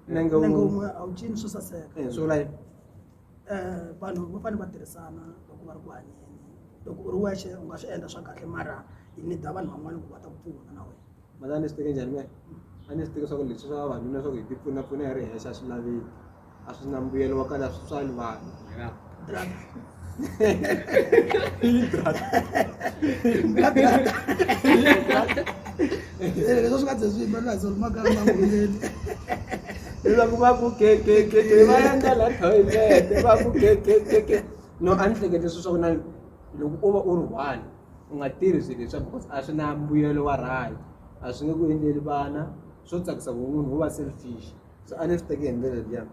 na nga na nga wun'we. wun'we a wu cini swo saseka Eh, swi vula yini Eh, vanhu va fanele va tirhisana loko va ri ku hanyeni loko u ri wexe u nga swi endla swa kahle mara yi nida vanhu van'wana ku va ta ku pfuna na wena mhani a ni swi teke njhani mehe a ni swi teke swa ku leswi swa vavanuna swa ku hi tipfunapfuna hi ri hexe a swi laveki a swi na mbuyelo wa kahle a swi tswali vanhu Brat. Brat. Brat. Leswi swi nga ze swi yimela leswi ma kala ma ngomeni. Leswaku va ku ke ke ke ke va endla la toilet va ku ke ke ke ke. No a ni hlekete sweswo ku na loko u va u ri one u nga tirhi swilo leswaku because a swi na mbuyelo wa right a swi nge ku endleli vana swo tsakisa ku munhu wo va selfish. so a ni swi teki hi ndlela liya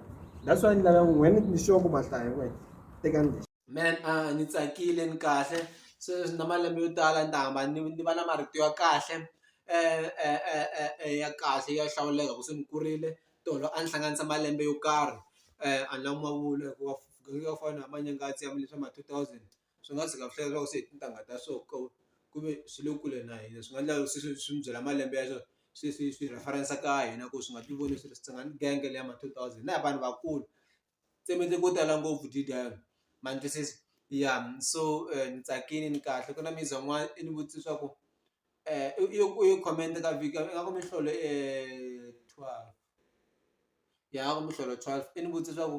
that's why ni lava n'wini ni sure ku mahlaya n'wini teka ni man a ni tsakile ni kahle se na malembe yo tala ni ta hamba ni ni va na marito ya kahle ya kahle ya hlawuleka ku se ni kurile tolo a ni hlanganisa malembe yo karhi a ni lava ku ma vula hikuva ku fana na manyangazi ya swa ma two thousand. swi nga tshika swi hlaya leswaku se hi tintangha ta so ku ku ve swi le kule na hina swi nga endla swi swi swi mi byela malembe ya swona se swi swi reference ka hina ku swi nga ti voni swi ri swi nga ni genge leyi ya ma two thousand na hi vanhu vakulu se mi endle ko tala ngopfu ma ni twisisa ya so ni tsakile ni kahle ku na mizi van'wana i ni vutise swa ku i yo i yo comment ka vika nga ku miholo twelve ya nga ku miholo twelve i ni vutise swa ku.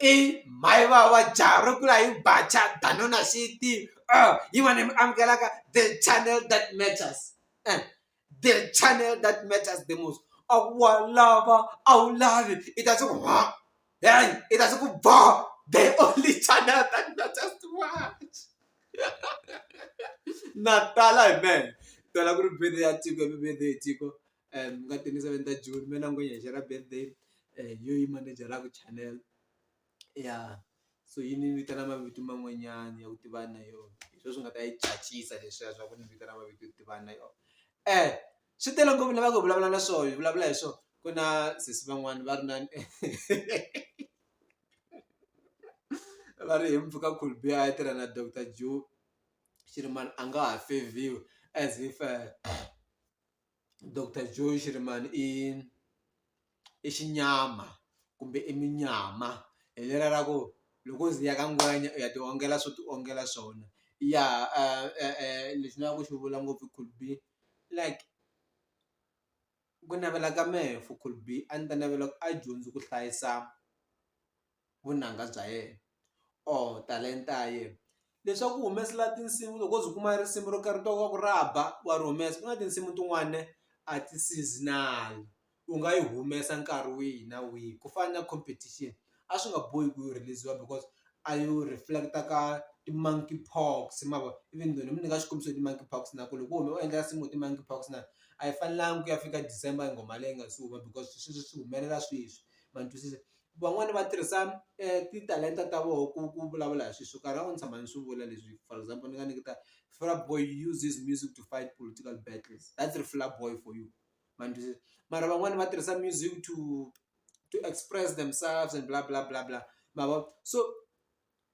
i mhai vava jaha ro kula hi bacha danona xiti uh, yin'wana mi amukelaka the channel that matters eh, the channel that matters the most a wa lava a wu lavi i ta swi ku ha hey i ta swi ku bo the only channel that matters to watch na tala hi mene tala ku ri video ya tiko i video ya tiko um nga twenty seven ta June me na ngwenya hi shera birthday hi yo yima ni byela ku channel ya so yi ni vitana mavito man'wanyana ya ku tivana na yona hi swo swi nga ta yi tsakisa leswiya swa ku ni vitana mavito yo tivana na yona um swi tele ngopfu ni lavaka ku vulavula na swona hi vulavula hi swona ku na sesi van'wani va ri na va ri hi mpfuka khulbi a ya tirha na doctor Joe xi ri mani a nga ha fevhiwi as if doctor Joe Shirimani i i xinyama kumbe i munyama hi lera ra ku loko u ze u ya ka ngwenya u ya ti ongela swo ti ongela swona ya lexi ni lava ku xi vula ngopfu could be like ku navela ka mehe for could be a ni ta navela ku a dyondzi ku hlayisa. vunanga bya yena or talenta ya yena leswaku u humesela tinsimu loko o ze u kuma risimu ro karhi u twa ingaku ra ba wa ri humesa ku na tinsimu tin'wani ne a ti seasonal u nga yi humesa nkarhi wihi na wihi ku fana na competition a swi nga bohi ku yi rhiliziwa because a yo reflect-a ka ti-monkey pox ma vo even though ni mi nyika xikombiso hi ti-monkey pox na ku loko wo huma u endla nsimu hi ti-monkey pox na a yi fanelanga ku ya fika December nghoma leyi nga se huma because sweswo swi humelela sweswi ma ni twisisa van'wani va tirhisa titalenta ta voho ku ku vulavula hi swilo swo karhi a wu ni tshama ni swi vula leswi for example ni nga nyiketa Fireboy uses music to fight political battles that's Fireboy for you ma ni twisisa mara van'wani va tirhisa music to to express themselves and bla bla bla bla ma vo so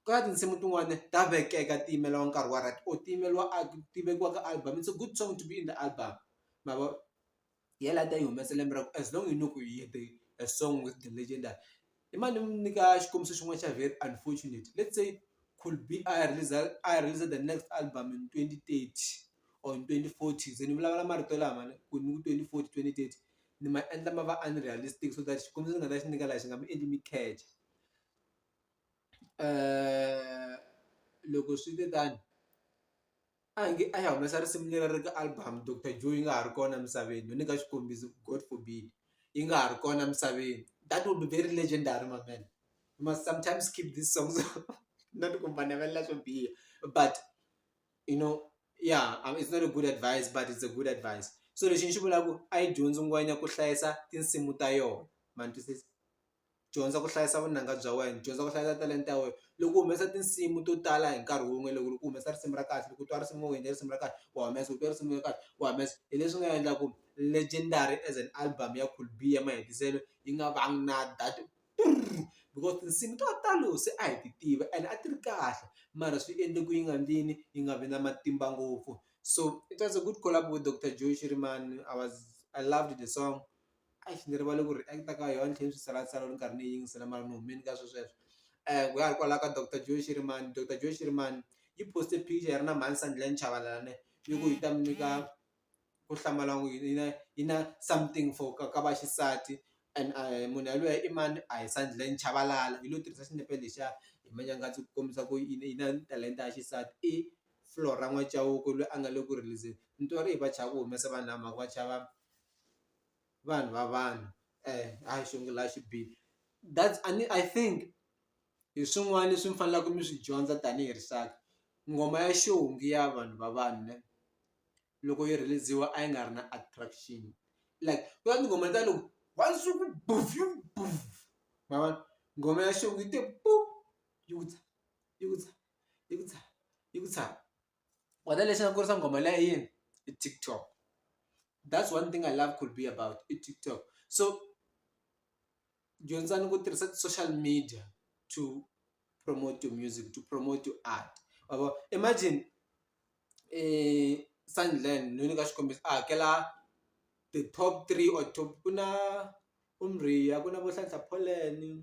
ku na tinsimu tin'wani ta vekeka ti yimeriwa nkarhi wa right or ti yimeriwa ti vekiwa ka album it's a good song to be in the album ma vo. hi yena a ta yi humesa lembe ra ku as long yi no ku yi hete a song with the legendary i mane ni mi nyika xikombiso xin'wana xa very unfortunate let's say could be a ya release-za a ya release-za the next album in twenty thirty or in twenty forty se ni vulavula marito lama ni ku ni ku twenty forty twenty thirty ni ma endla ma va unrealistic so that xikombiso ni nga ta xi nyika laha xi nga mi endli mi kheja loko swi te tano. A nge a ya humesa risimu leri ri ka album Doctor Joe yi nga ha ri kona emisaveni no nyika xikombiso God forbid yi nga ha ri kona emisaveni that will be very legendary my man you must sometimes keep these songs not ku mi va navelela swo biha but you know ya it's not a good advise but it's a good advise so lexi ni xi vulaku a yi dyondzi ngwenya ku hlayisa tinsimu ta yona ma ni twisisa. dyondza ku hlayisa vunanga bya wena dyondza ku hlayisa talenta ya wena loko u humesa tinsimu to tala hi nkarhi wun'we loko ri ku humesa risimu ra kahle loko u twa risimu wena risimu ra kahle wa humesa u twa risimu ra kahle wa humesa hi leswi nga endla ku legendary as an album ya Cool B ya mahetiselo yi nga vangi na that because tinsimu to talo se a hi ti tiva ene a ti ri kahle mara swi endle ku yi nga ndlini yi nga vi na matimba ngopfu so it was a good collabo with Doctor Joe Shirimani I was I loved the song Eish ni rivale ku ri a yi ta ka yo a ni tlhe ni swi tsalantsala ni karhi ni yi yingisela mara ni humini ka swo sweswo ku ya hi kwala ka doctor Joe Shirimani doctor Joe Shirimani yi post-e picture yi ri na mhani Sandilangi Chavalala ne yi ku yi ta mi nyika ku hlamala n'wi yi na yi na something for ka ka vaxisati and a hi munhu yalweyo i mani a hi Sandilangi Chavalala yi lo tirhisa xinepe lexiya hi manyanga ku kombisa ku yi yi na talenta ya xisati i Flora N'wa Cauke lweyi a nga le ku release-zeni ni twa ri va chava ku humesa vanhu lava hi mhaka va chava. vanhu va vanhu a hi sungula xi bihile that's a ni I think hi swin'wana leswi mi faneleke mi swi dyondza tanihi rixaka ngoma ya xinghezi ya vanhu va vanhu ne loko yi rheliziwa a yi nga ri na attraction like ku na tinghoma ta loko wa nsuku ma vona nghoma ya xintu yi te yi ku tshama yi ku tshama yi ku tshama yi ku tshama. wena lexi nga kurisa nghoma liya i yini i TikTok that's one thing I love could be about i TikTok so dyondzani ku tirhisa ti-social media to promote your music to promote your art ma vo imagine Sandland no nyika xikombiso a hakela the top three or top ku na ku na vo Hlanhla Polleni.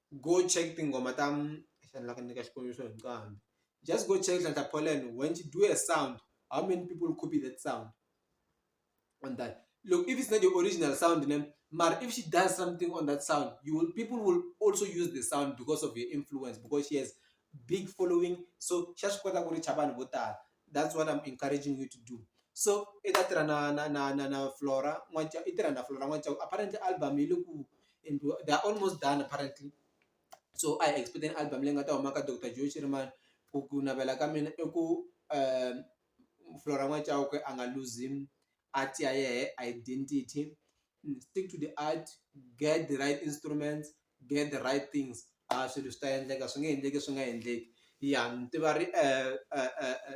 go check tinghoma ta xana la ku nyika xikombiso hi nqambi just go check Nhlanhla Poland when she do a sound how many people copy that sound on that look if it's not your original sound then mara if she does something on that sound you will people will also use the sound because of your influence because she has big following so xa swi kota ku ri cha vanhu vo tala that's what I'm encouraging you to do so i ta tirha na na na na na flora n'waca i tirha na flora n'waca apparently album yi le ku endliwa they are almost done apparently so i expect an album leyi nga ta huma ka dr joe shirimani ku ku navela ka mina i ku um flora n'waca a nga luzim art ya yehe identity and stick to the art get the right instruments get the right things a swilo swi ta endleka swi nge endleki swi nga endleki ya ni tiva ri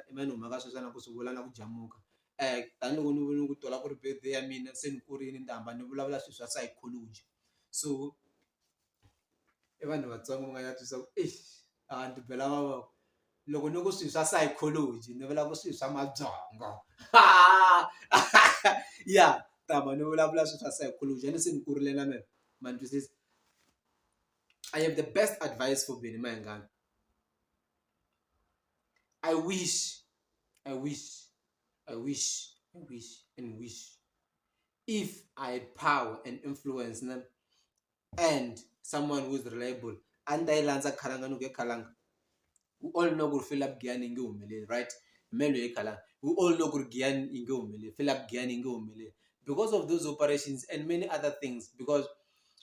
i mani u huma ka sweswiwani a ku swi vula na ku jamuka tanihiloko ni vone ku twala ku ri birthday ya mina se ni kurile ni ta hamba ni vulavula swilo swa psychology so. i vanhu vatsongo mi nga ya twisa ku eish a ni ti bela vavoko loko ni ku swilo swa psychology ni vula ku swilo swa mabyongo ya tama ni vulavula swilo swa psychology a ni se ni kurile na mina ma ni twisisa I have the best advice for mina mahingani I wish I wish I wish I wish and wish if I had power and influence na and someone who is reliable a ni ta yi landza khalanga ni ku ye khalanga we all know ku ri philip giyani yi nge humeleli right me loyi khalanga we all know ku ri giyani yi nge humeleli philip giyani yi nge humeleli because of those operations and many other things because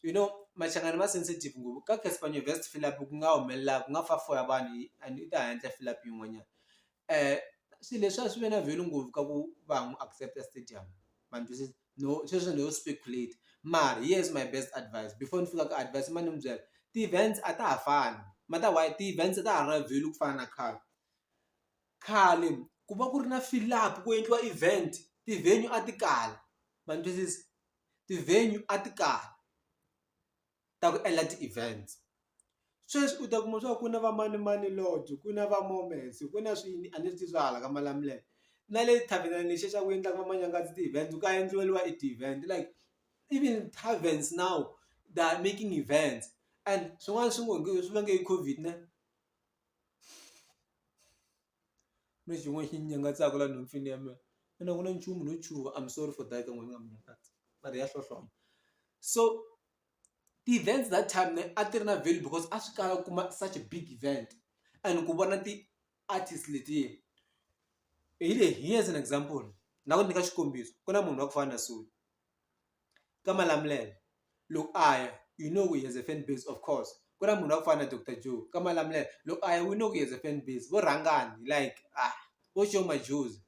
you know machangani ma sensitive ngopfu ka caspan vest philip ku nga humelela ku nga fa fo ya vanhu and i ta handle philip yin'wanyana um swilo leswi a swi ve na value ngopfu ka ku va ha n'wi accepta stadium ma ni twisisa no sweswo no speculate mara here is my best advice before ni fika ka advise ma ni mi byela ti-events a ta ha fani ma ta why ti-events a ta ha ri na value ku fana na khale khale ku va ku ri na fill up ku endliwa event ti-venue a ti kala ma ni twisisa ti-venue a ti kala. ta ku endla ti-events sweswi u ta kuma swa ku ku na va manimani lobby ku na va moments ku na swilo a ni swi tivi swa hala ka malamulele na le tarven-ini lexiya xa ku endlaka va manyangazi ti-event ka endliweriwa e ti-event like even tarvens now they are making events and swin'wana swi ngo swi vange hi Covid ne. Ku na xin'wana xi nyangatsako laha nhompfini ya mina ina a ku na nchumu no chuha I'm sorry for that ka n'wina mi nga ni nyangatsa mara ya hlohlona so ti-events that time a ti ri na value because a swi kala u kuma such a big event and ku vona ti-artist letiya hi leyi here's an example ni lava ku nyika xikombiso ku na munhu wa ku fana na Sue. ka Malamulele loko a ya you know he has a fan base of course ku na munhu wa ku fana na doctor Joe ka Malamulele loko a ya we know he has a fan base vo rhangani like a vo Sho Madjozi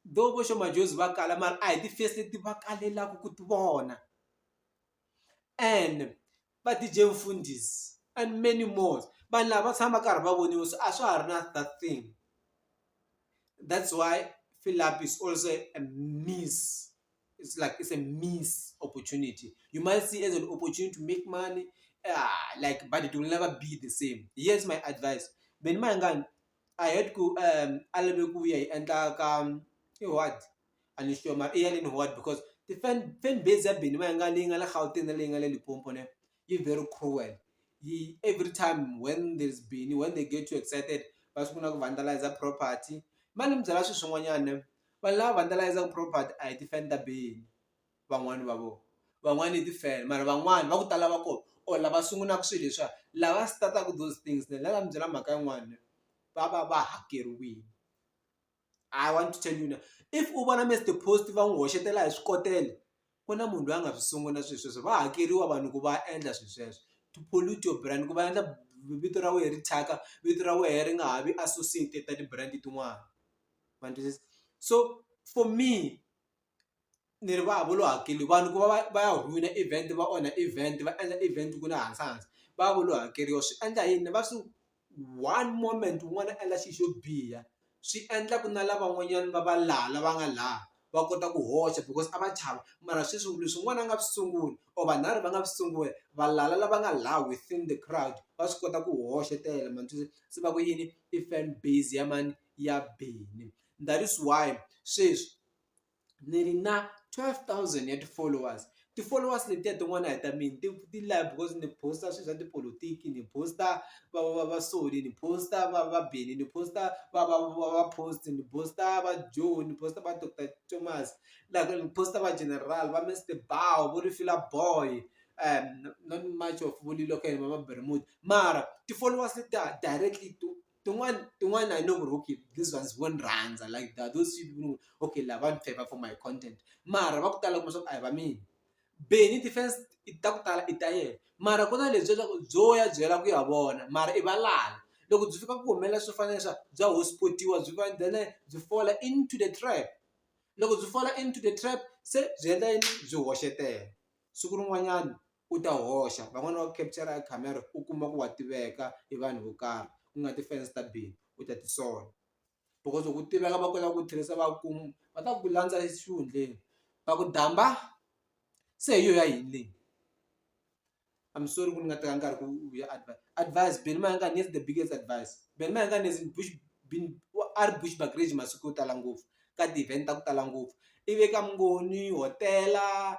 though vo Sho Madjozi va kala mara a hi ti-face leti va kalelaka ku ti vona and va DJ Mfundisi and many more vanhu lava va tshama karhi va voniwa so a swa ha ri na that thing that's why Philip is also a miss it's like it's a miss opportunity you might see as an opportunity to make money ah like but it will never be the same yes my advice Benny Mayengani I had ku um a lave ku ya yi endla ka i what and it's your Maria and what because the fan fan base ya Benny Mayanga leyi nga le Gauteng na leyi nga le Limpopo ne yi very cruel yi every time when there's Benny when they get too excited va sungula ku vandalize property mani mi byela swilo swin'wanyana ne vanhu lava vandalize property a hi ti-fan ta Benny van'wani va vona van'wani i ti-fan mara van'wani va ku tala va kona or lava sungulaka swilo leswiya lava start-aka those things ne la va mi byela mhaka yin'wani ne va va va hakeriwile. I want to tell you now if u vona Mister Post va n'wi hoxetela hi swikotela ku na munhu loyi a nga swi sungula swilo sweswo va hakeriwa vanhu ku va endla swilo sweswo to pollute your brand ku va endla vito ra wena ri thyaka vito ra wena ri nga ha vi associated na ti-brand tin'wana ma twisisa so for me ni ri va vo lo hakeli vanhu ku va va va ya ruwina event va onha event va endla event ku ri na hansi hansi va ya va lo hakeriwa swi endla yini va swi one moment wun'wana a endla xi xo biha swi endla ku na lavan'wanyani va va laha la va nga laha va kota ku hoxa because a va chava mara sweswi leswi n'wana a nga swi sungula or vanharhu va nga swi sungula valala lava nga laha within the crowd va swi kota ku hoxetela ma swi tiva se va ku yini i fan base ya mani ya Benny that is why sweswi. ni ri na twelve thousand ya ti-followers ti-followers letiya tin'wana a hi ta mina ti ti lava because ni post a swilo swa tipolotiki ni post-a va va va va sole ni post-a va va Benny ni post-a va va va va post ni post-a va Joe ni post-a va doctor Thomas la ku ni post-a va General va Mister Bow vo ri fila boy not much of vo Lilokwe va Mara ti-followers letiya directly to. tin'wani tin'wani I know ku ri okay these ones vo ni rhandza like they are those few people okay lava va ni favour for my content mara va ku tala kuma swa ku a hi va mina Bennie ti-fans i ta ku tala i ta yena mara ku na lebyiya bya ku byo ya byi yela ku ya vona mara i valala loko byi fika ku humelela swo fana na leswiya bya hosport-iwa byi va then byi fall-a into the trap loko byi fall-a into the trap se byi endla yini byi hoxetela siku rin'wanyani. u ta hoxa van'wani va ku capture hi camera u kuma ku wa tiveka hi vanhu vo karhi ku nga ti-fans ta bindzu u ta tisola because loko u tiveka va kota ku tirhisa va ku va ta ku landza exihundleni va ku damba se hi yo ya yini leyi I'm sorry ku ni nga teka nkarhi ku ya advise Benny Mayengani here's the biggest advise Benny Mayengani is in Bush a ri Bushbuckridge masiku yo tala ngopfu ka ti-event ta ku tala ngopfu i ve ka Mngoni hotela.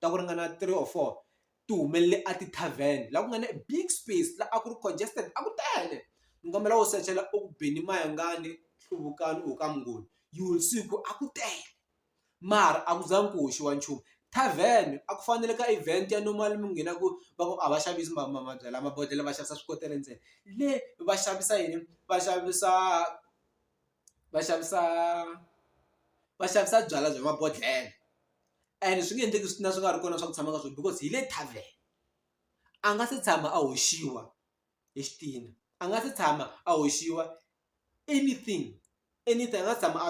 ta ku ringana three or four ti humelele a ti-tarven laha ku nga na big space laha a ku ri congested a ku tele ni kombela u sechela eku beni mayengani hluvukani u ka mungoni you will see ku a ku tele mara a ku zangi ku hoxiwa nchumu tarven a ku fanele ka event ya normal mi nghena ku va ku a va xavisi mabyalwa mabodlhela va xavisa swikotela ntsena le va xavisa yini va xavisa va xavisa va xavisa byalwa bya mabodlhela and swi nge endleki swi na swi nga ri kona swa ku tshama ka swona because hi le tarven a nga se tshama a hoxiwa hi xitina a nga se tshama a hoxiwa anything anything a nga tshama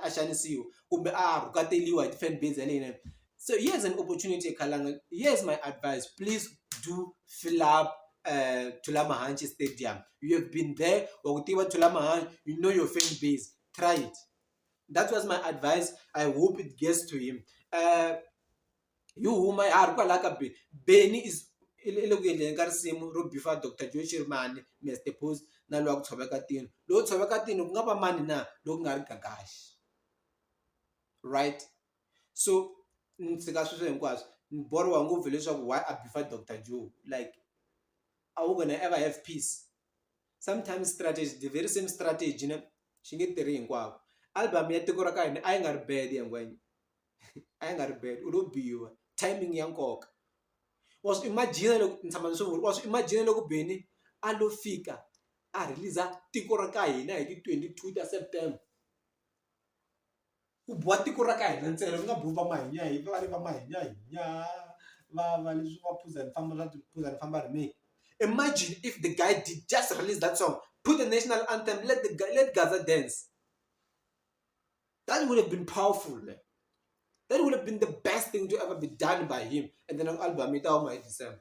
a xanisiwa kumbe a rhukateliwa hi ti-fan base ya le yinene so here is an opportunity khalanga here is my advice please do fill up uh, Tulamahanchi Stadium. You have been there, or Tiwa Tulamahanchi, you know your fan base. Try it. that was my advice i hope it gets to him uh, yi huma ya ha ri kwalaha ka be beni is i le ku endleni ka risimu ro bifa dr joe shermani mr post na lowa ku tshoveka tino lowu tshoveka tino ku nga va mani na loku nga ri gagaxi right so ni tshika sweswo hinkwaswo ni boriwa ngopfu leswaku why a bifa dr joe like are we gonna ever have peace sometimes strategy the very same strategy na xi nge tirhi hinkwako album ya tiko ra ka hina a yi nga ri bad ya ngwenya a yi nga ri bad u lo biwa timing ya nkoka wa swi imagine loko ni tshama ni swi vula wa swi imagine loko beni a lo fika a release tiko ra ka hina hi ti twenty two ta september Ku biwa tiko ra ka hina ntsena ku nga biwi va mahinyahinyi va le va mahinyahinya va va leswi va phuza ni famba va phuza ni famba rhimini imagine if the guy did just release that song put the national anthem let the let Gaza dance that would have been powerful man that would have been the best thing to ever be done by him and then album yi ta huma hi December.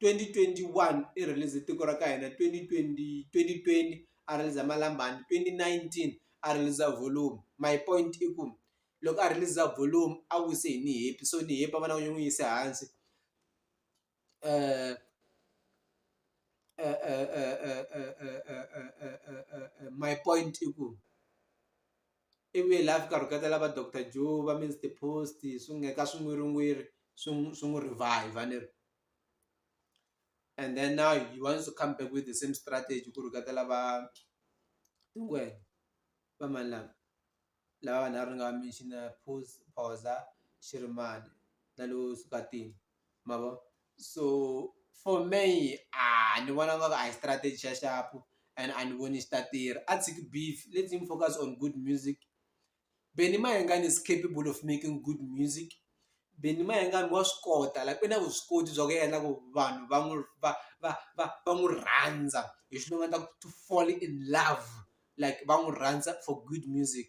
twenty twenty one i release-ze tiko ra ka hina twenty twenty twenty twenty a release-za Malambani twenty nineteen a release-za Volume my point i ku loko a release-za Volume a wise hi Niyepi so Niyepi a va lava ku n'wi yisa hansi my point i ku. ivi hi laha a fika a rhuketa lava doctor Joe va Mister post swi nga ka swin'wirin'wiri swi n'wi swi n'wi revive ni ri and then now he wants to come back with the same strategy ku rhuketa lava hi wena va mani lava lava vanharhu ni nga va mention-a Pooza, Shirimani na loyi Sukatini. ma vo so for me a ni vona nga ku a hi strategy xa xapu and a ni voni xi ta tirha a tshiki beef let him focus on good music Benny Mayengani is capable of making good music Benny Mayengani wa swi kota like u na vuswikoti bya ku endla ku vanhu va n'wi va va va va n'wi rhandza hi swi nga ta ku to fall in love like va n'wi rhandza for good music.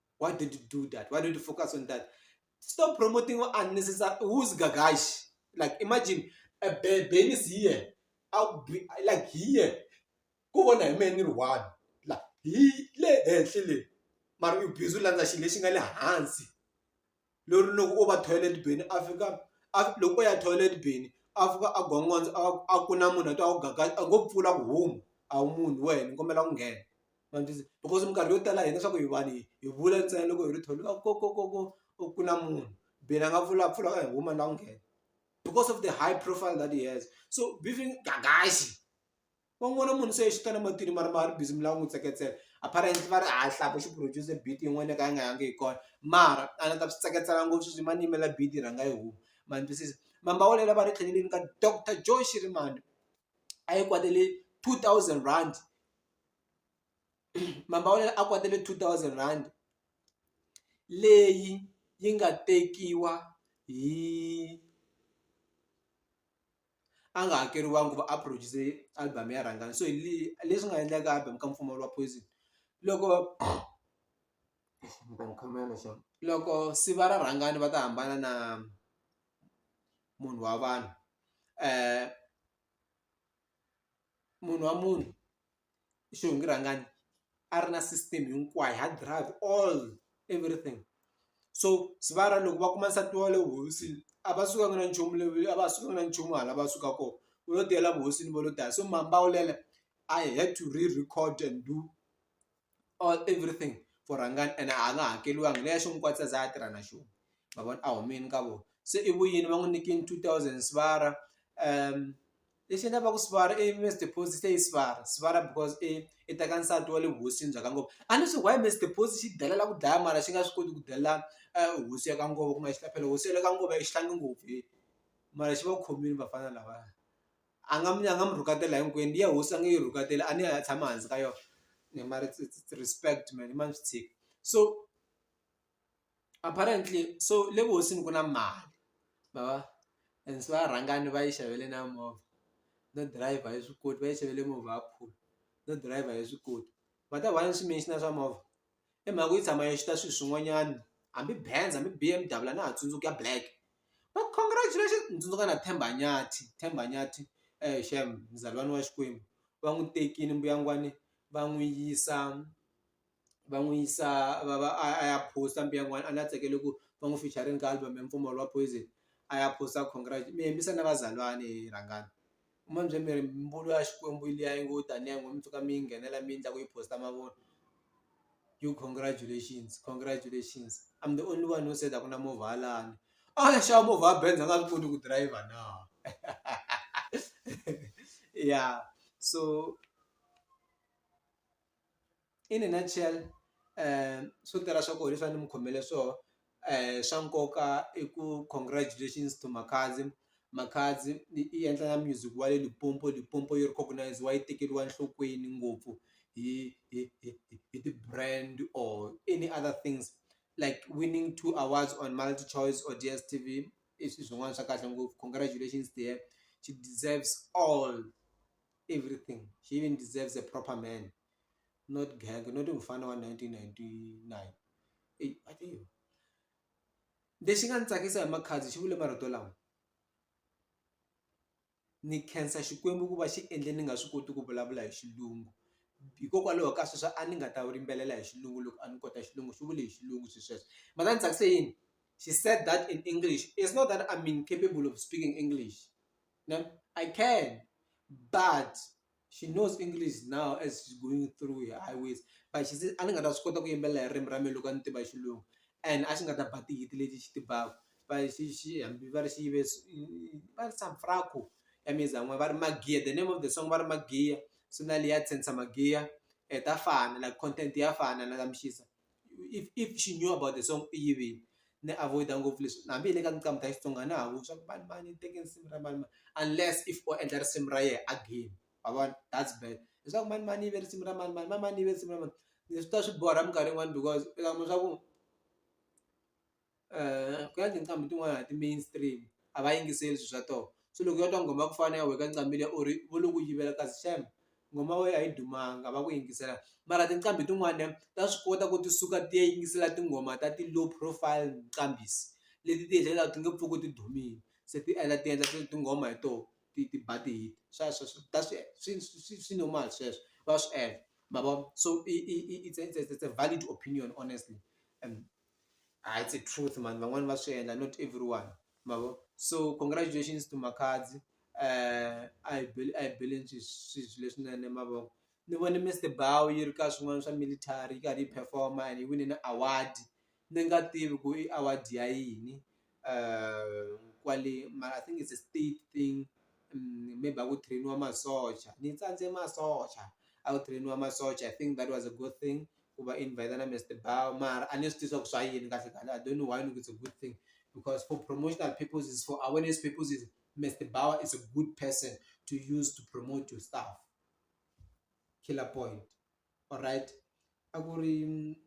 why don't you do that why don't you focus on that stop promoting unnecessary who's gagash like imagine a baby is here I'll be like here ku vona hi mehe ni ri one la hi le henhla le mara u busy u landza xilo lexi nga le hansi. lori loko o va toilet bin a fika a loko o ya toilet bin a fika a gongondza a a ku na munhu a twa ku gaga a ngo pfula ku humu a wu munhu wena ni kombela ku nghena ma ni twisisa because minkarhi yo tala hina swa ku hi vanhu hi hi vula ntsena loko hi ri toilet va ku ko ko ko ko ku na munhu bin a nga pfula a pfula a hi huma ni lava ku nghena because of the high profile that he has so gagaxi. va n'wi vona munhu se i xitana matini mara ma ri busy mi lava n'wi tseketsela apparently va ri ha hlaka xi produce beat yin'wana yo ka yi nga yangi hi kona mara a ni ta swi tseketsela ngopfu sweswi ma ni yimela beat yi rhanga yi huma ma ni twisisa mambawulela va ri tlheleleni ka doctor Joe Shirimani a yi kwatele two thousand rand mambawulela a kwatele two thousand rand leyi yi nga tekiwa hi. a nga hakeriwangi ku va a produce album ya rhangani so leswi nga endlaka album ka mpfumawulo wa poison loko loko siva ra rhangani va ta hambana na munhu wa vanhu munhu wa munhu. xihungi rhangani a ri na system hinkwayo hard drive all everything so sivara loko va kuma nsati wa le vuhosini a va sukanga na nchumu le a va sukanga na nchumu hala va suka kona vo lo tiyela vuhosini va lo dlaya so maambaulelo a hi had to re-record and do all everything for rhangani ene a nga hakeriwangi leya xo n'wi kwatisa a za a tirha na xona ma vona a humile ka vona se i vu yini va n'wi nyikile two thousand sivara . lexi endla va ku sivara i maize deposit i sivara sivara because i i teka nsati wa le vuhosini bya ka ngopfu a ni swi why maize deposit xi delela ku dlaya mara xi nga swi koti ku delela hosi ya ka ngopfu kuma xi ta phela hosi ya le ka ngopfu a yi xihlangi ngopfu heyi mara xi va khomile vafana lava a nga mi a nga mi rhuketela hinkwenu liya hosi a nge yi rhuketela a ni a tshama hansi ka yona mara respect mehe ni ma swi tshiki so. Apparently so le vuhosini ku na mali ma va and se va rhangani va yi xavele na movha no dirayivha a yi swi koti va yi xavele movha ya khume no dirayivha a yi swi koti va ta one swichina swa movha i mhaka ku yi tshama yi xuta swilo swin'wanyana hambi Benz hambi B_M_W a na ha tsundzuki ya black but congratulations ni tsundzuka na Themba Nyathi Themba Nyathi shame muzalwana wa Xikwembu va n'wi tekile mbuyangwani va n'wi yisa. va n'wi yisa va va a ya a ya post-a mbe yin'wani a ni ya tsakele ku va n'wi featuring ka album ya Mpfumawulo wa Poison a ya post-a congrats mi yimbisa na vazalwana he rhangani u ma ni byele ni ri mbulu ya Xikwembu liya yi ngo taniya yi ngo mi tshuka mi yi nghenela mi yendla ku yi post-a mavunwa yo congratulations congratulations I'm the only one who said a ku na movha ya lani a ni xava movha ya Benz a nga swi koti ku driver na ya so. in a nutshell swo tala swa kona hi fanele ni mi khomele swoho swa nkoka i ku congratulations to Makhadzi, Makhadzi i endla na music wa le Limpopo, Limpopo yi recognize-wa yi tekeriwa enhlokweni ngopfu hi hi hi hi ti-brand or any other things like winning two awards on MultiChoice or DSTV i swi swin'wana swa kahle ngopfu congratulations dear she deserves all. everything she even deserves a proper man not gang not mufana wa 1999 eyi a tiva lexi nga ni tsakisa hi makhadzi xi vule marito lama ni khensa xikwembu ku va xi endle ni nga swi koti ku vulavula hi xilungu hikokwalaho ka sweswo a ni nga ta rimbelela hi xilungu loko a ni kota xilungu xi vule hi xilungu swi sweswo ma ta ni tsakise yini she said that in english is not that im incapable of speaking english. No, I can, but she knows English now as she's going through her highways. But she says, a ni nga ta swi kota ku yimbelela hi ririmi ra mina loko a ni tiva xilungu and a xi nga ta ba tihiti leti xi tivaka but xi xi hambi va ri xi yive va ri samfrako ya mina zan'we va ri magiya the name of the song va ri magiya se na leyi ya tshentsa magiya ta fana like content ya fana na ka mixisa. if if she knew about the song u yivile ni avoid-a ngopfu leswi hambi hi le ka nqambi ta Xitsonga a na ha ku swa ku mani mani u teke nsimu ra mani mani unless if o endla risimu ra yena a game ma vona that's bad leswaku mani mani u yive risimu ra mani mani mani mani u yive risimu ra mani leswi swi ta swi borha minkarhi yin'wani because u ta kuma swa ku. ku ya tinqambi tin'wana ti main stream a va yingiseli swi swa toho se loko yo twa nghoma ya ku fana na ya wena ka nqambi liya or vo lo ku yivela kasi shame nghoma ya wena a yi dumanga a va ku yingisela mara tinqambi tin'wani ta swi kota ku ti suka ti ya yingisela tinghoma ta ti-low profile nqambhi leti ti hetelela ti nge pfuki ti dumile se ti endla ti endla tinghoma hi toho ti ti ba ti-hit swa swa swa ta swi swi swi swi swi normal sweswo va swi endla ma vo so i i i it's a it's a it's a valid opinion honestly . ah, it's a truth man van'wani va swi endla not everyone mavo so congratulations to makhadzi uh, i bel i believe swilo leswinene mavoko ni vone mr bow yi ri ka swin'wana swa military yi karhi yi performa and yi wine na award ni nga tivi ku i award ya yini kwale mara I think it's a state thing maybe a ku train-iwa masocha ni tsandze masocha a ku train-iwa masocha I think that was a good thing ku va invite na Mister Bau mara a ni swi tivi swa ku swa yini kahle kahle I don't know why ni ku it's a good thing because for promotional purposes for awareness purposes Mister Bau is a good person to use to promote your stuff, Killer Point. alright a ku ri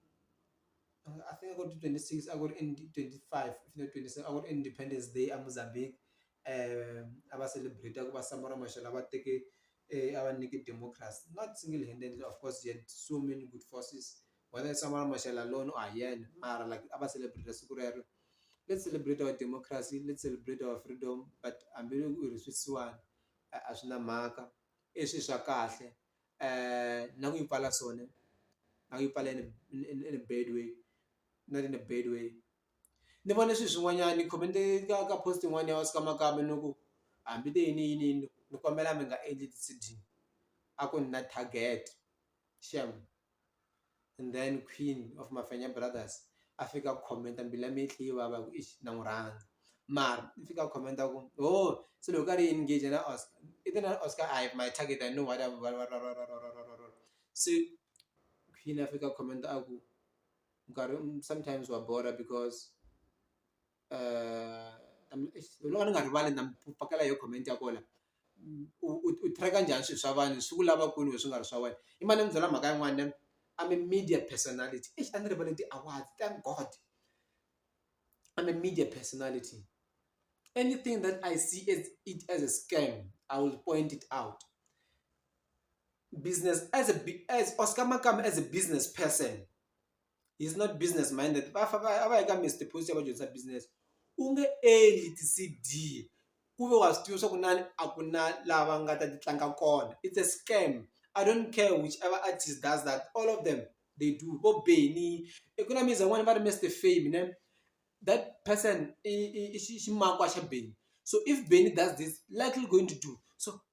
I think a ku ri twenty six a ku ri twenty five if not twenty seven a ku ri Independence Day a Mozambique a va celebrate ku va Samora Machel a va teke a va nyike democracy not single handed of course he had so many good forces whether i Samora Machel alone or hi yena mara like a va celebrate siku rero let's celebrate our democracy let's celebrate our freedom but hambiloko ku ri sweswiwani a swi na mhaka i swi swa kahle. uh now you pala sone now you pala in a, in, in, in a bad way not in a bad way ni vone swilo swin'wanyana ni khome ni ka ka post yin'wana ya wasi ka makamba ni ku hambi te yini yini yini ni kombela mi nga endli ti-cd a ku ni na target xem and then queen of Mafenya brothers a fika a comment mbilu ya mina yi tlhe yi vava hi ku eish na n'wi rhandza mara i fika a comment a ku ho se loko karhi i engage na Oscar i te na Oscar a hi my target I know what I'm se queen a fika a comment a ku nkarhi sometimes wa borha because. ni nga ni nga rivali na mi pakela yo comment ya kona u track-a njhani swilo swa vanhu swi ku lava kwini wena swi nga ri swa wena i mane ni mu byela mhaka yin'wani ni I'm a media personality eish a ni rivale ti-award thank God I'm a media personality anything that I see as it as a scam I will point it out business as a as Oscar Makamba as a business person. he's not business minded va fa va a va yi ka Mister Post ya va dyondzisa business u nge endli ti-C_D ku ve wa swi tiva swa ku lani a ku na lava nga ta ti tlanga kona it's a scam I don't care which ever artist does that all of them they do vo Benny i ku na music yin'wana va ri Mister Fame ne that person i i i ximakwa xa Benny so if Benny does this likely going to do so.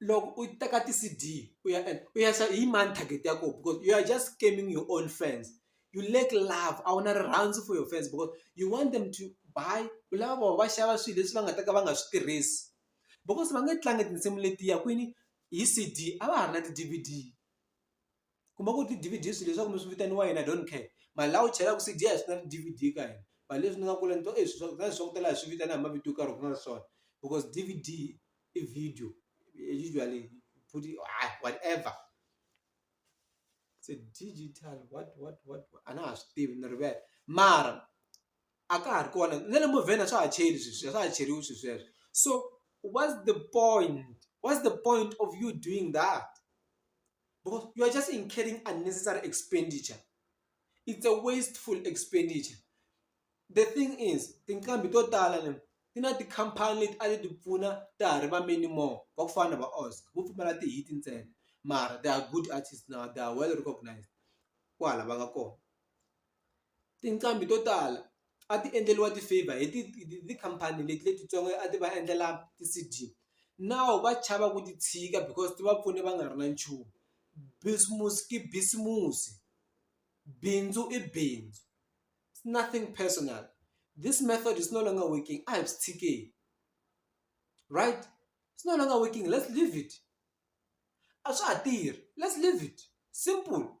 loko u teka ti-C_D u ya endla u ya xava hi mani target ya kona because you are just scamming your own fans you lack love a wu na rirhandzu for your fans because you want them to buy u lava vona va xava swilo leswi va nga ta ka va nga swi tirhisi because va nge tlangi tinsimu letiya kwini hi C_D a va ha ri na ti-D_V_D. kuma ku ti-D_V_D swi leswaku mi swi vitaniwa yini I don't care mara laha u chelaku C_D a hi swi na ti-D_V_D ka hina mara leswi ni nga kula ni twa swi swa leswi swa ku tala hi swi vitana hi mavito yo karhi ku nga ri swona because D_V_D i video usually futhi hayi whatever se digital what what what a na ha swi tivi ni rivele mara a ka ha ri kona na le movheni a swa ha cheli sweswi a swa ha cheriwi swi sweswo so what's the point what's the point of you doing that. because you are just incurring unnecessary expenditure it's a wasteful expenditure the thing is tinqambi to tala le ti na tikhampani leti a ti ti pfuna ta ha ri va many more va ku fana na va oscar vo pfumala ti-hit ntsena mara they are good artist now they are well recognised kwala va nga kona Tinqambi to tala a ti endleriwa ti-favour hi tikhampani leti letitsongo a ti va endlela ti-C_D now va chava ku ti tshika because ti va pfune va nga ri na nchumu bisimusi i bisimusi bindzu i bindzu nothing personal this method is no longer working a hi swi tshikeni right is no longer working let's leave it a swa ha tirhi let's leave it simple.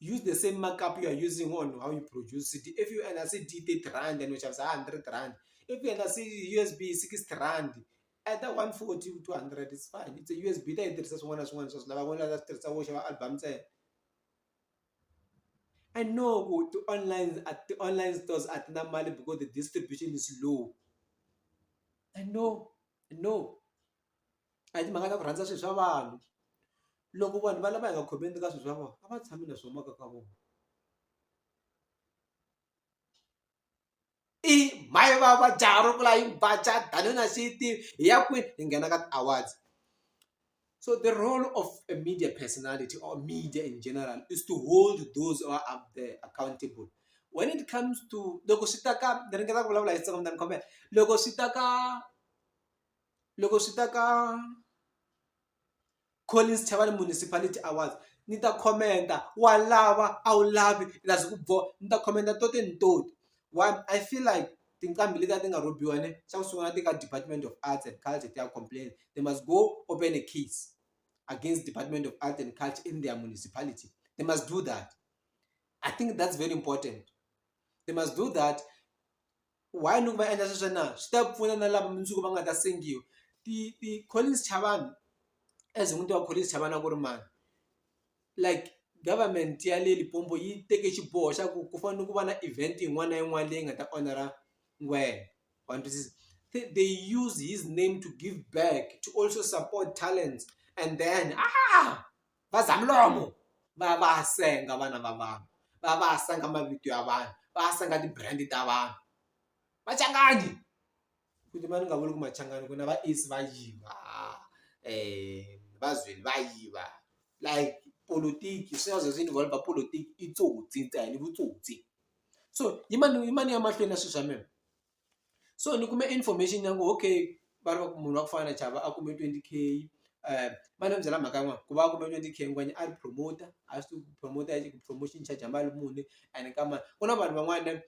use the same markup you are using on how you produce it if you enda se d thirty rand and uxavisa hundred rand if you enda se usb sixty rand either one forty u two hundred is fine it's a usb ta yi tirhisa swin'wana na swin'wana swa swi lava van'wana va ta swi tirhisa vo xava album ntsena i know ku ti-online ti-online stores a ti na mali because the distribution is low i know. no a hi timhaka ta ku rhandza swilo swa vanhu loko vanhu va lava hi nga khomeni ka swilo swa vona a va tshami na swo maka ka vona i mhayi va va jaha ro vula yi ba ja danuna xi yi tivi hi ya kwini hi nghena ka ti-awards. So the role of a media personality or media in general is to hold those who are up there accountable. When it comes to loko swi ta ka ni ringeta ku vulavula hi tsongo mtani khomela loko swi ta ka loko swi ta ka Collins Chavani Municipality Awards ni ta khomenta wa lava a wu lavi lazi ku boha ni ta khomenta to te ni toti why I feel like tinqambi leti a ti nga rhobiwa ne xa ku sungula ti ka department of arts and culture ti ya complain they must go open a case against department of arts and culture in their municipality they must do that i think that's very important they must do that why loko va endla sweswo na swi ta pfuna na lava mundzuku va nga ta sengiwa ti ti-collins chavani as n'wini ti va collins chavani a ku ri mani like government ya le Limpopo yi teke xiboho xa ku ku fanele ku va na event yin'wana na yin'wana leyi nga ta onhela ngwenya wa twisisa se they use his name to give back to also support talents and then va za milomo va va senga vana va vanhu va va senga mavito ya vanhu va senga ti-brand ta vanhu vacanganyi. Futhi mani nga vuli ku machangani ku na va Esi va yiva va Zweli va yiva like politiki swi nga ze swi involve politiki i tsotsi ntsena i vutsotsi so yimani yimani ya mahlweni na swilo swa mina so ni kume information ya ku okay va ri va ku munhu wa ku fana na Chava a kume twenty K va ni byela mhaka yin'wana ku va a kume twenty K yin'wana a ri promoter a swi tiva ku promoter promotion charge ya mali muni ene ka mani ku na vanhu van'wana.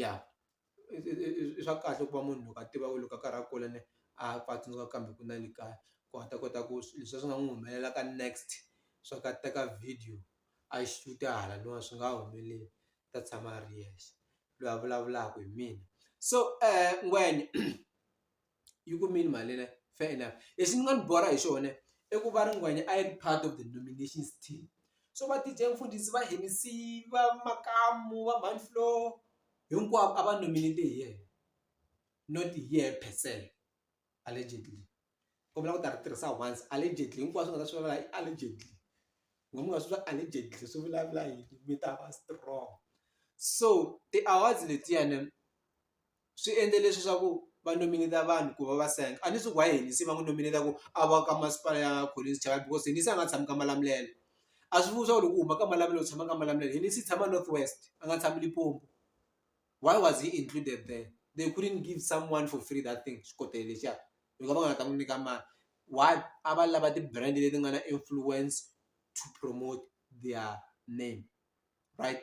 ya i i swa kahle ku va munhu loko a tiva ku loko a karhi a kula a pfa a tsundzuka kambe ku na le kaya ku a ta kota ku leswi a swi nga n'wi humelela ka next swa ku a teka video a yi xuta hala no swi nga humeleli u ta tshama a ri yexe loyi a vulavulaka hi mina so ngwenya. yi kumile mali liya fair enough lexi ni nga ni borha hi xona i ku va ri nghwenyana a yi ri part of the nominations team so va D_J Mfundhisi va Hennessy va Makamu va Mani Floor hinkwavo a va nominate hi yena not hi yehe per se allegedly u vula ku ta ri tirhisa once allegedly hinkwaswo u nga ta swi vula i allegedly u nga swi vula allegedly swi vulavula yini mi ta va strong so ti-awards letiyani. swi endle leswi swa ku va nominate-a vanhu ku va va senga a ni swi ku why hina se va n'wi nominate-a ku a va ka masipala ya Collins Chava because hina se a nga tshami ka Malamulele a swi vuli swa ku loko u huma ka Malamulele u tshama ka Malamulele hina se hi tshama North West a nga tshami Limpopo why was he included there they couldn't give someone for free that thing xikotela lexiya loko va nga ha ta n'wi nyika mali why a va lava ti-brand leti nga na influence to promote their name right.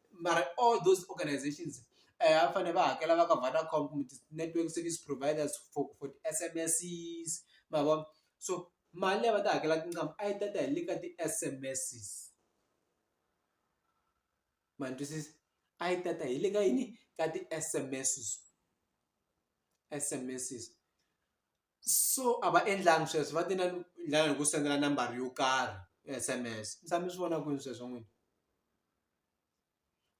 Mara all those organisations a va fanele va hakela va ka Vodacom kumbe ti-network service providers for for ti-S_M_S-i's ma vo so mali leyi a va ta hakela tinqambi a yi ta ta hi le ka ti-S_M_S-i's ma ni twisisa a yi ta ta hi le ka yini ka ti-S_M_S-i's S_M_S-i's. so a va endlangi sweswo va ti na lava hi ku sendela nambara yo karhi S_M_S mi tshama mi swi vona kwini sweswo n'wina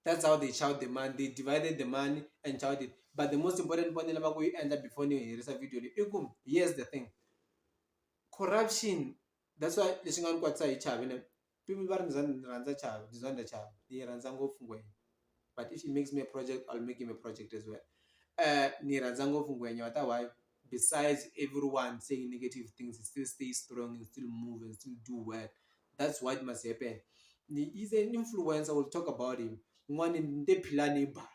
that's how they child the money they divided the money and child it but the most important ni fanele va ku yi endla before ni herisa video leyi i ku here's the thing corruption that's why lexi nga ni kwatisa hi chava . People va ri ndzi ndzi rhandza Chavi ndzi rhandza Chavi ni yi rhandza ngopfu ngwenya but if he makes me a project I'll make him a project as well ni yi rhandza ngopfu ngwenya wa ta why besides everyone saying negative things he still stay strong and still move and still do well that's what must happen he's an influencer we'll talk about him n'wana ni te Philani i bala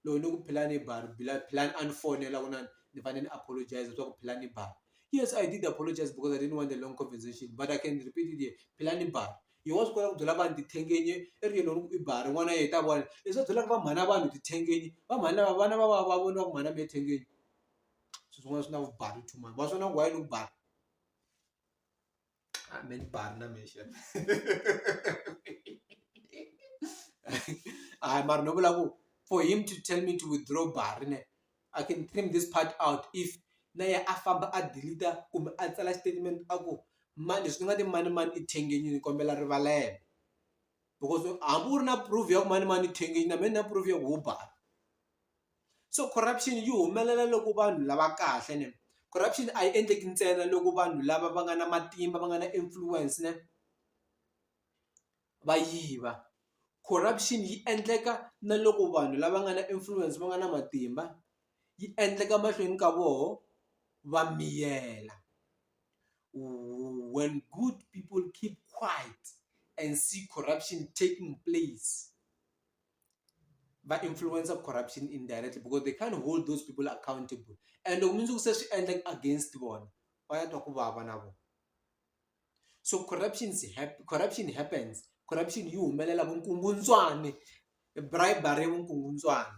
loko ni ku phela ni ba phela a ni fonela ku na ni fanele ni apologize swa ku phela ni ba yes I did apologize because I didn't want a long conversation but I can repeat it here phela ni ba hi wa swi kota ku byela vanhu tithengenye i ri yini loko i ba rin'wana ya heta vona leswi va byelaka va mhana vanhu tithengenye va mhani lava vana va va va vona va ku mhana mi ya thengenye swilo swin'wana swi na vumbhari two mhani va swona why ni ku ba. Ah, men barna mi xa hayi mara no vula ku for him to tell me to withdraw bari ne i can trim this part out if na ye a famba a deleta kumbe a tsala statement a ku ma leswi ni nga ti mani mani i thengenyini ni kombela rivalelo because hambi u ri na proof ya ku mani mani i thengenyini na me ni na proof ya ku wo bari. so corruption yi humelela loko vanhu lava kahle ne corruption a yi endleki ntsena loko vanhu lava va nga na matimba va nga na influence ne va yiva corruption yi endleka na loko vanhu lava nga na influence va nga na matimba yi endleka mahlweni ka voho va miyela when good people keep quite and see corruption taking place. va influencer corruption indirectly because they can't hold those people accountable and loko mundzuku se swi endleka against vona va ya twa ku vava na vona so corruptions corruption happens corruption yi humelela vukungundzwani bribery vukungundzwani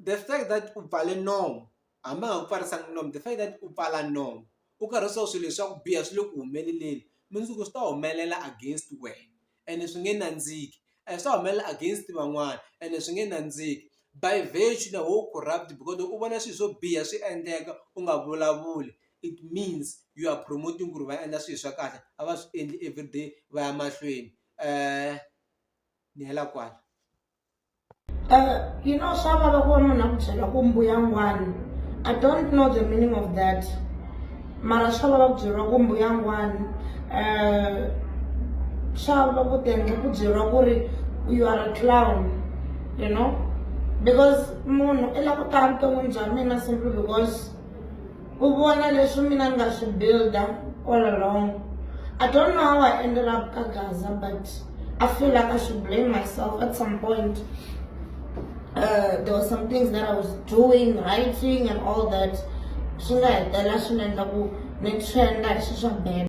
The fact that u pfale nomu hambi a nga ku pfarisangi nomu the fact that u pfala nomu u karhi u swo swilo leswi swa ku biha swi le ku humeleleni mundzuku swi ta humelela against wena ene swi nge nandziki a swi ta humelela against van'wana ene swi nge nandziki by virtue the whole corrupt because loko u vona swilo swo biha swi endleka u nga vulavuli it means you are promoting ku ri va endla swilo swa kahle a va swi endli everyday va ya mahlweni ni hela kwala. Uh, you know, swa vava ku va munhu a ku byela ku mbuyangwana i don't know the meaning of that mara swa vava ku byeriwa ku mbuyangwana um swa vava ku tendla ku byeriwa ku ri you are a clown you know because munhu i la ku tala vuton'wini bya mina simply because U vona leswi mina nga swi builda all along. I don't know how I ended up ka Gaza but I feel like I should blame myself at some point. Uh, there were some things that I was doing, writing and all that. Swi nga hetelela swi endla ku ni trenda hi swi swa bad.